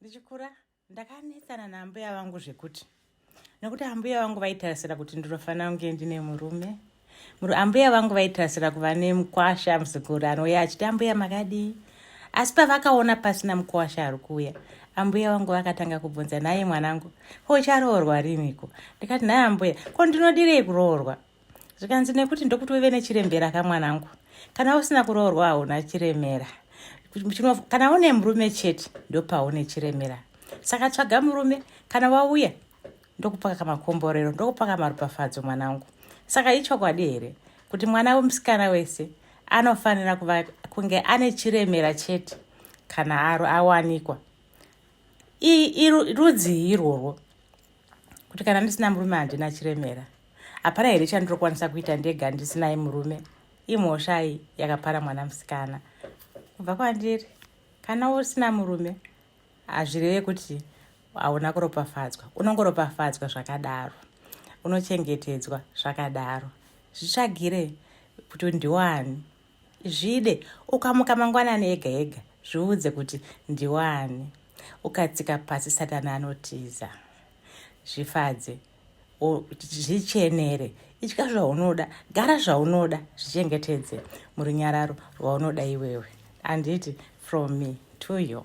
ndichikura ndakanetsana naambuya vangu zvekuti nokuti ambuya vangu vaitarisira kuti ndinofanira kunge ndine murume ambuya vangu vaitarisira kuva nemukwasha muzukuru anouya achiti ambuya makadii asi pavakaona pasina mukwasha ari kuuya ambuya vangu vakatanga kubvunza naye mwanangu ko ucharoorwa riniko ndikati naye ambuya ko ndinodirei kuroorwa zvikanzi nekuti ndokuti uve nechirembera ka mwanangu kana usina kuroorwa hauna chiremera kana une murume chete ndopaune chiremera saka tsvaga murume kana wauya ndokupaka kamakomborero ndokupaka maropafadzo mwanangu saka ichokwadi here kuti mwana wemusikana wese anofanira kuva kunge ane chiremera chete kana awanikwa rudzii irworwo kuti kana ndisina murume handina chiremera hapana here chandinokwanisa kuita ndega ndisinayi murume imhoshai yakapara mwana musikana kubva kwandiri kana usina murume hazvireve kuti hauna kuropafadzwa unongoropafadzwa zvakadaro unochengetedzwa zvakadaro zvitsvagire kuti ndiwani Zvide, ukamuka mangwanani ega ega, zviudze kuti ndiwani. Ukatsika pasi satani anotiza. Zvifadze, zvichenere, itya zvaunoda, gara zvaunoda, zvichengetedze murunyararo rwaunoda iwewe. Anditi from me to you.